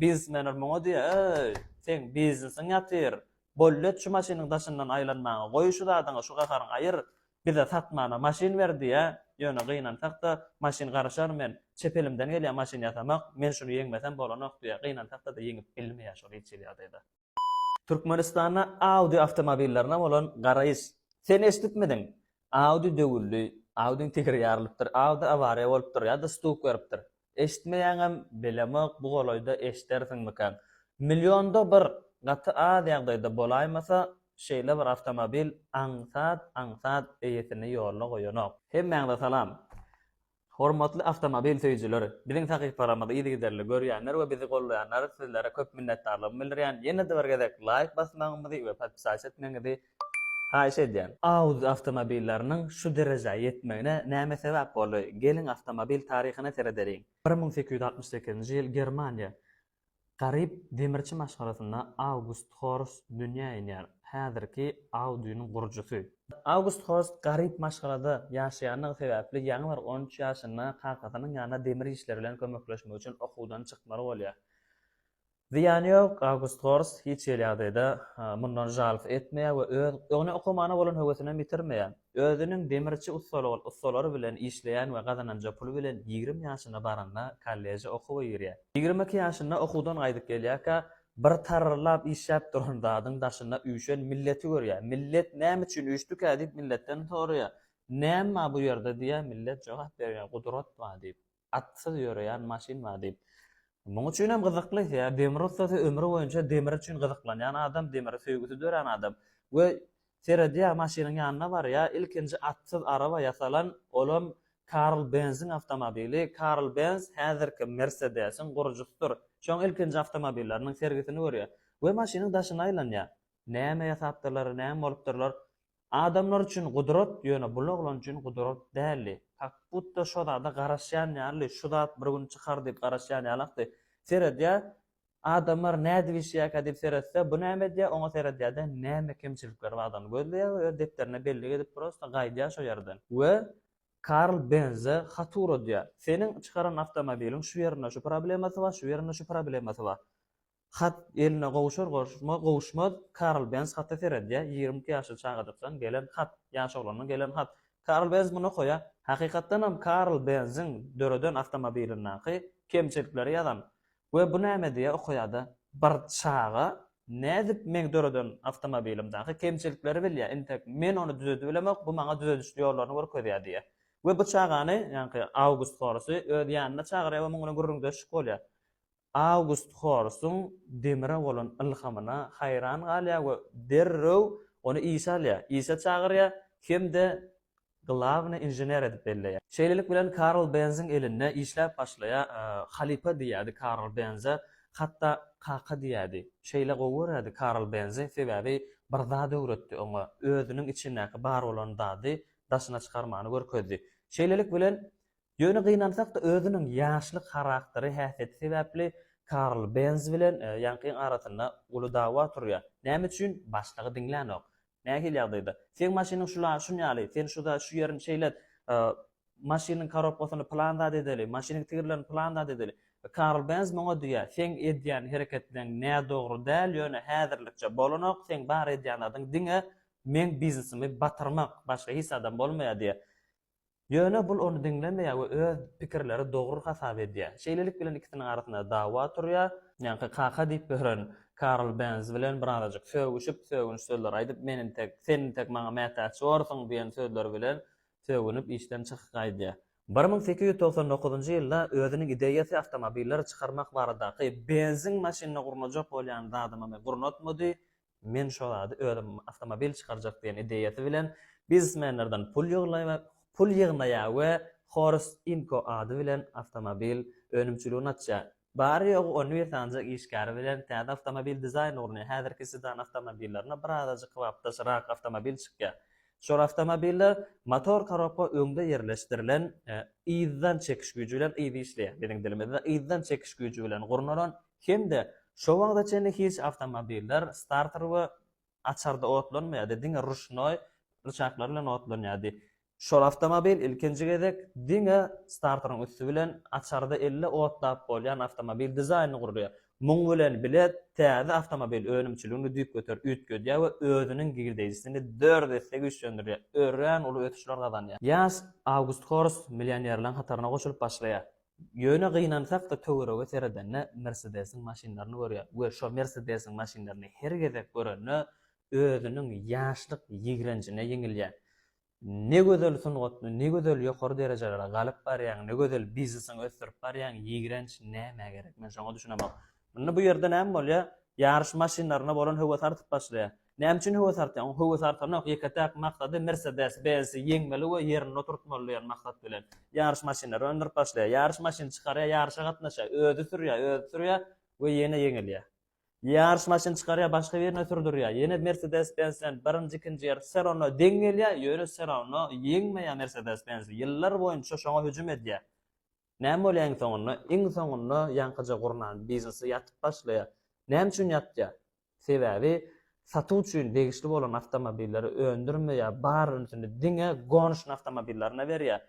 Biznesmenler muňa diýýär, Öý, seň biznesiň ýatyr. Bollet şu maşynyň daşyndan aýlanmaňy, goý şu zadyňy, şu gaharyňy aýyr, bize satmana maşyn ber diýýär. Ýöne gynansak-da, maşyn garaşar, men çep elimden gelýär maşyn ýasamak, men şuny ýeňmesem bolanok diýýär. Gynansak-da-da ýeňip bilmeýär şol ilçili ýagdaýda. Türkmenistanda Audi awtomobillerine bolan garaýyş. Sen eşidipmidiň? Audi döwüldi, Audiň tegeri ýarylypdyr, Audi awariýa bolupdyr ýa-da stuk beripdir. Eşitmeýäňem, bilemok, bu golaýda eşidersiňmikäň. Millionda bir, gaty az ýagdaýda bolaýmasa, şeýle bir awtomobil aňsat-aňsat eýesini ýoluna goýanok. Hemmäňize salam. Hormatly awtomobil söýüjiler, biziň sahypalarymyzy yzygiderli görýänler we bizi gollaýanlar sizlere köp minnetdarlygymy bildirýän, ýene-de bir gezek laýk basmagyňyzy we podpisać etmegiňizi haýyş edýän. Audi awtomobilleriniň şu derejä ýetmegine näme sebäp boldy? Geliň awtomobil taryhyna seredeliň. Bir müň sekiz ýüz altmyş sekizinji ýyl Germaniýa Garyp demirçi maşgalasynda Awgust Horst dünýä inýär, häzirki Audi-niň gurujysy. Awgust Horst garyp maşgalada ýaşaýandygy sebäpli ýaňy bir on üç ýaşynda kakasynyň ýanyna demir işleri bilen kömekleşmek üçin okuwdan çykmaly bolýar. Zyýany ýok, Awgust Horst hiç hili ýagdaýda mundan žalost etmeýär we öz öňüne okumana bolan höwesinem ýitirmeýär. Özüniň demirçi ussalary bilen işleýän we gazananja puly bilen ýigrimi ýaşyna baranda kolleje okuwa girýär. Ýigrimi iki ýaşynda okuwdan gaýdyp gelýärkä, bir tarrlap işläp duran zadyň daşynda üýşen milleti görýär. Millet näme üçin üýşdükä diýip milletden soraýar. Näme bar bu ýerde diýýär, millet jogap berýär, gudrat bar diýip. atsyz ýöreýän maşyn bar diýip. Muň üçin hem gyzykly, ýa demir ussasy ömri boýunça demir üçin gyzyklanýan adam, demire söýgüsi dörän adam we seredýär, maşynyň ýanyna barýar, ilkinji atsyz araba ýasalan, olam Karl Benziň awtomobili, Karl Benz häzirki Mersedesiň gurujysydyr, şoň ilkinji awtomobilleriniň sergisini görýär we maşynyň daşyna aýlanýar. Näme ýasapdyrlar, näme bolupdyrlar? Adamlar üçin gudrat, ýöne bul oglan üçin gudrat däldi. Kak butda şo zada garaşýan ýalydy, şu zat bir gün çykar diýip garaşýan ýalakdy. Seredýär, adamlar nädip işleýärkä diýip seretse, bu näme edýär, oňa seredýär-de, näme kemçilikleri bardygyny gözleýär we öz depderine bellik edip, prosta gaýdýar şo ýerden. We Karl Benze hat ugradýar. Seniň çykaran awtomobiliň şu ýerinde şu problemasy bar, şu ýerinde şu problemasy bar. Hat eline gowuşar-gowuşmaz, gowuşmaz, Karl Benz hata seredýär, ýigrimi iki ýaşly çagajykdan gelen hat, ýaş oglandan gelen hat. Karl Benz muny okaýar. Hakykatdanam Karl Benziň döreden awtomobilindaky kemçilikleri ýazan we bu näme diýe okaýar-da. Bir çaga nädip meň döreden awtomobilimdaky kemçilikleri bilýär, intek men ony düzedip bilemok, bu maňa düzediş ýollaryny görkezýär diýýär. We bu çagany, ýaňky August Horasy öz ýanyna çagyrýar we muň bilen gürrüňdeşlik bolýar. Awgust Horsuň demire bolan ylhamyna haýran galýar we derrew ony işe alýar, işe çagyrýar hem-de glawnyý inžener edip belleýär. Şeýlelik bilen Karl Benziň elinde işläp başlaýar, halypa diýýärdi Karl Benze, hatda kaka diýýärdi. Şeýle gowy görýärdi Karl Benzi, sebäbi bir zat öwretdi oňa, özüniň içindäki bar bolan zady daşyna çykarmany görkezdi. Şeýlelik bilen Ýöne gynansak-da, özüniň ýaşlyk harakteri häsiýeti sebäpli Karl Benz bilen Ýankyň arasynda uly dawa turýar. Näme üçin? Başlygy diňlänok. Nähili ýagdaýda? Seň maşynyň şul-a şunýaly, sen şu-da şu ýerini şeýlet, maşynyň korobkasyny pylan zat edeli, maşynyň tigirlerini pylan zat edeli. Karl Benz muňa diýýär, seň edýän hereketleň nädogry däl, ýöne häzirlikçe bolanok, seň bar edýän zadyň diňe meň biznesimi batyrmak, başga hiç zadam bolmaýar diýýär. Ýöne bul ony diňlemeýär we öz pikirleri dogry hasap edýär. Şeýlelik bilen ikisiniň arasynda dawa turýar. Ýaňky kaka diýip ýören Karl Benz bilen birazajyk sögüşip, sögünç sözler aýdyp, men intek, sen intek maňa mätäç borsuň diýen sözler bilen sögünip işden çykyk gaýdýar. Bir müň sekiz ýüz togsan dokuzynjy ýylda özüniň ideýasy awtomobilleri çykarmak baradaky Benziň maşynyna gurnajak bolýan zadymamy gurnatmady, Men şo zady özüm awtomobil çykarjak diýen ideýasy bilen biznesmenlerden pul ýyglaý we pul ýygnaýa we Horus Inko ady bilen awtomobil önümçiligini açýa. Bary ýogy on bir sanja işgäri bilen täze awtomobil dizaýn urunýa. Häzirki sedan awtomobillerine bir azajyk kybapdaşyrak awtomobil çykýa. Şol awtomobiller motor korobka öňde ýerleşdirilen yzdan çekiş güýji bilen yzy işleýä. Biziň dilimizde yzdan çekiş güýji bilen gurnalan Hem-de şo wagta çenli hiç awtomobiller starter we açarda otlanmaýardy, diňe ruşnoý ryçaklar bilen otlanýardy. Şol awtomobil ilkinji gezek diňe starteryň üsti bilen açarda elle otlap bolýan awtomobil dizaýnyny gurýar. Muň bilen bile täze awtomobil önümçiligini düýpgöter üýtgedýär we özüniň girdeýjisini dört esse güýçlendirýär, örän uly ösüşler gazanýar. Ýaş August Horst millionerleriň hataryna goşulyp başlaýar. Ýöne gynansak-da töwerege seredende Mersedesiň maşynlaryny görýäs we şo Mersedesiň maşynlaryny her gezek görende özüniň ýaşlyk ýigrenjine ýeňilýän. Ne gözel sungatny, ne gözel ýokary derejelere galyp barýaň, ne gözel biznesiňi ösdürip barýaň, ýigrenç nämä gerek? Men şoňa düşünemok. Indi bu ýerde näme bolýar? Ýaryş maşynlaryna bolan höwes artyp başlaýar. Näme üçin höwes artýar? Oň höwesi artanok, ýeke-täk maksady Mercedes Benzi ýeňmeli we ýerinde oturtmaly diýen maksat bilen ýaryş maşynlary öndürip başlaýar. Ýaryş maşyny çykarýar, ýaryşa gatnaşýar, özi sürýär, özi sürýär we ýene ýeňilýär. Ýaryş maşyny çykarýar, başga birine sürdürýär, ýene Mercedes Benz bilen birinji, ikinji ýer wse rawno deň gelýär, ýöne wse rawno ýeňmeýär Mercedes Benzi. Ýyllar boýunça şoňa hüjüm edýär. Näme bolýar iň soňunda? Iň soňunda ýaňkyja gurnan biznesi ýatyp başlaýar. Näme üçin ýatýar? Sebäbi satuw üçin degişli bolan awtomobilleri öndürme ýa bar ünsüni diňe Gonşn awtomobillaryna berýär.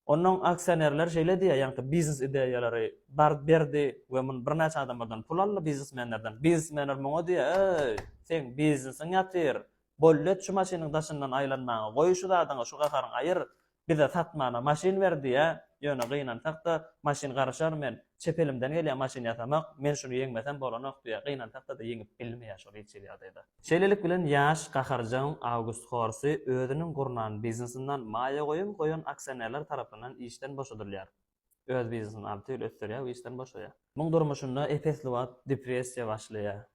Onuň aksionerleri şeýle diýýär, ýaňky biznes ideýalary bar berdi we muny birnäçe adamlardan pul aldy, biznesmenlerden. Biznesmenler muňa diýýär, Eý, seň biznesiň ýatyr, Bollet şu maşynyň daşyndan aýlanmaňa goý şu zadyňy şu gaharyňy aýyr bize satmana maşyn ber diýä ýöne gynansakda maşyn garyşar men çep elimden gelýär maşyn ýasamak men şuny ýeňmesem bolanok diýä gynansakda-da ýeňip bilmeýä şol hiç hili ýagdaýda. Şeýlelik bilen ýaş gaharjaň August Horsy özüniň gurnan biznesindan maýa goýum goýan aksionerler tarapyndan işden boşadylýar. Öz biznesini alty ýyl ösdürýär we işden boşaýar. Muň durmuşynda epesli wagt depressiýa başlaýar.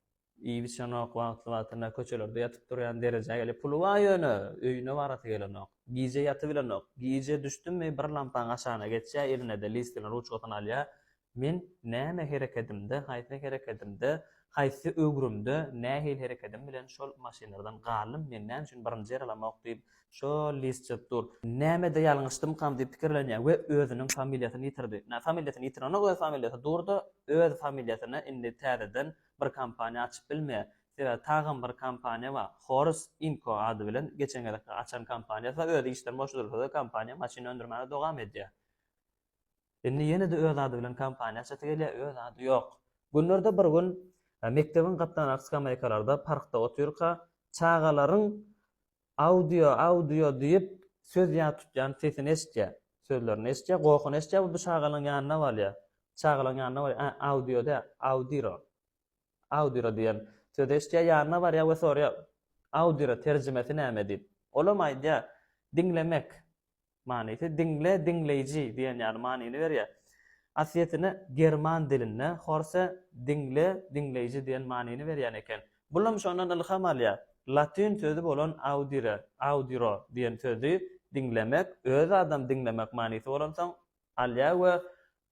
Iýip içenok, wagtly-wagtynda köçelerde ýatyp-turýan derejä gelip, puly bar ýöne, öýüne barasy gelenok. Gije ýatybilenok. Gije düşdümi, bir lampaň aşagyna geçýär, eline-de list bilen ruçkasyny alýar. Men näme herekedimde, haýsy herekedimde, haýsy öwrümde, nähili herekedim bilen şol maşynlardan galdym, meni näme üçin birinji ýaralamok diýip, şol list çyzyp dur. Nämede ýalňyşdymkam diýip pikirlenýär we özüniň familiýasyny ýitirdi. Familiýasyny ýitirenok, öz familiýasy dur-da, öz familiýasyny indi täzeden bir kompaniýa açyp bilmeýär. Sebäbi tagan bir kompaniýa bar. Horus Inko ady bilen geçen gezekki açan kompaniýasy özi işden boşadylsa-da kompaniýa maşyn öndürmäne dowam edýär. Indi ýene-de öz ady bilen kompaniýa açasy gelýär, öz ady ýok. Günlerde bir gün mekdebiň gapdalaky skameýkalarda parkda otyrka çagalaryň Audio, audio diýip, söz ýa tutýan sesini eşitýär. Sözlerini eşitýär, gohuny eşitýär we bu şagalaň ýanyna barýar. Şagalaň ýanyna barýar, ä, audio däl, audiro. Audiro diýen sözi eşitýär, ýanyna barýar we soraýar, Audiro terjimesi näme diýip. Olam aýdýar, Diňlemek. manysy diňle, diňleýji diýen ýaly manyny berýär. Aslyýetine german dilinde horse diňle, diňleýji diýen manyny berýän eken. Bulam şondan ylham alýar. Latyn sözi bolan audire, audiro diýen sözi diňlemek, öz adam diňlemek manysy bolansoň alýar we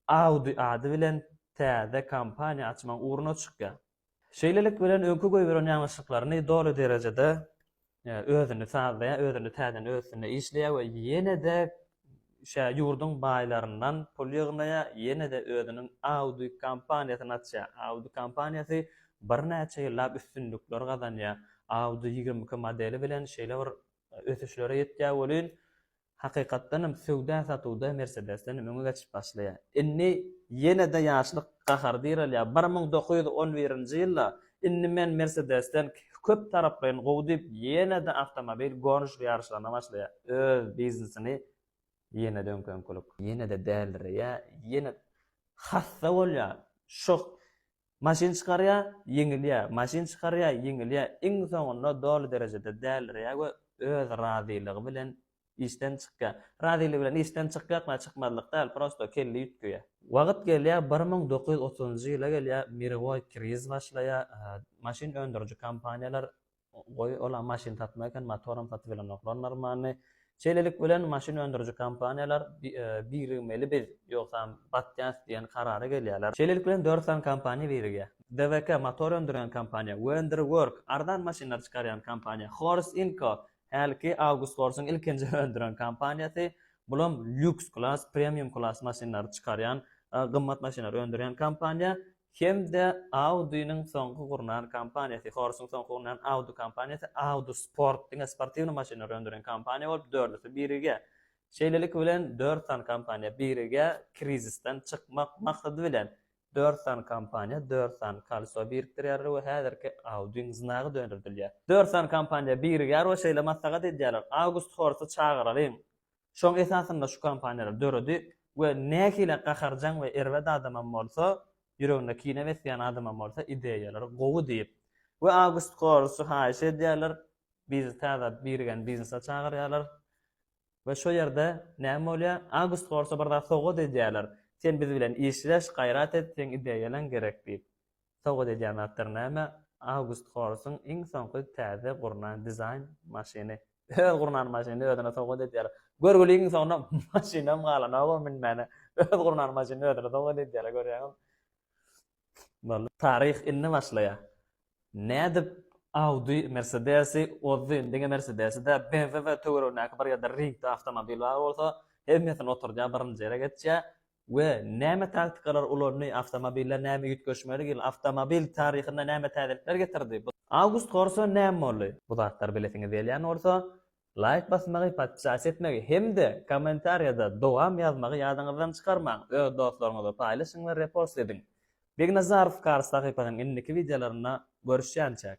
Audi ady bilen täze kompaniýa açmagyň ugruna çykýar. Şeýlelik bilen öňki goýberen ýalňyşlyklaryny doly derejede özüni sazlaýar, özüni täzeden öz üstünde işleýär we ýene-de şä ýurduň baýlaryndan pul ýygnaýar, ýene-de özüniň Audi kompaniýasyny açýar. Audi kompaniýasy birnäçe ýyllap üstünlikler gazanýar. Audi ýigrimi iki modeli bilen şeýle bir ösüşlere ýetýär welin, Hakykatdan hem söwda-satuwda Mersedesden hem öňe geçip başlaýar. Indi ýene-de ýaşlyk gahary direlýär. Bir müň dokuz ýüz on birinji ýylda Indi men Mersedesden köp taraplaýyn gowy diýip, ýene-de awtomobil goniş ýaryşlaryna başlaýar. Öz biznesini ýene-de öňki-öňkülik. Ýene-de däldireýär, ýene hassa bolýar. Şo Maşyn çykarýa, ýeňilýä, maşyn çykarýa, ýeňilýä, iň soňunda doly derejede dälirýä we öz razylygy bilen işden çykýa. Razylygy bilen işden çykýakmy, çykmazlyk däl, prosto kelle üýtgeýä. Wagyt gelýä, bir müň dokuz ýüz otuzynjy ýyla gelýä, mirowoý kriz başlaýa, maşyn öndüriji kompaniýalar Goý, olam maşyn satmak eken, motoram satybilenoklar normalny. Şeýlelik bilen maşyn öndüriji kompaniýalar birigmeli biz, ýogsam batýas diýen karara gelýärler. Şeýlelik bilen dört sany kompaniýa birigýär. DWK, motor öndürýän kompaniýa, Wender Work, arzan maşynlar çykarýan kompaniýa, Horse Inco, hälki August Horse-yň ilkinji öndüren kompaniýasy, bulam lýuks klass, premium klass maşynlary çykarýan, gymmat maşynlary öndürýän kompaniýa, hem-de Audi-niň soňky gurnan kompaniýasy, Horse-yň soňky gurnan Audi kompaniýasy Audi Sport diňe sportiwny maşynlary öndüren kompaniýa bolup, dördüsi birige, şeýlelik bilen, dört sany kompaniýa birige krizisden çykmak maksady bilen, dört sany kompaniýa dört sany kolso birikdirýärler we häzirki Audi-niň znagy dönürdilýär. Dört sany kompaniýa birigýär we şeýle maslahat edýärler, August Horse-y çagyralyň, Şoň esasynda şu kompaniýalary döredi we nähili gaharjaň we erbet adamam bolsa, ýüreginde kine besleýän adamam bolsa ideýalary gowy diýip we August Korsu haýyş edýärler, biz täze birigen biznese çagyrýarlar we şo ýerde näme bolýar? August Korsa bir zat sowgat edýärler, sen biz bilen işleş, gaýrat et, seň ideýalaň gerek diýip. Sowgat edýän zatlary näme? August Horsuň iň soňky täze gurnan dizaýn maşyny. Öz gurnan maşynyny özüne sowgat edýär. Görgüligiň soňuna maşynam galanok-ow münmäne. Öz gurnan maşynyny özüne sowgat edýär, görýäňizmi? Boldy. Taryh indi başlaýar. Nädip Audi Mersedesi ozdy, diňe Mersedesi-dä, BMW töweregindäki bir ýerde ringde awtomobil bar bolsa, hemmesini oturdýar, birinji ýere geçýär. we näme taktikalary ulandy, awtomobiller näme üýtgeşmelik ýyl, awtomobil taryhynda näme täzelikler getirdi, bu. Awgust gorsa näme boldy? Bu zatlary bilesiňiz gelýän bolsa, laýk basmagy, podpisas etmegi hem-de kommentariýada dowam ýazmagy ýadyňyzdan çykarmaň, öz dostlaryňyza paýlaşyň we repost ediň. Begnazarow Kars sahypasynyň indiki wideolarynda görüşýänçäk!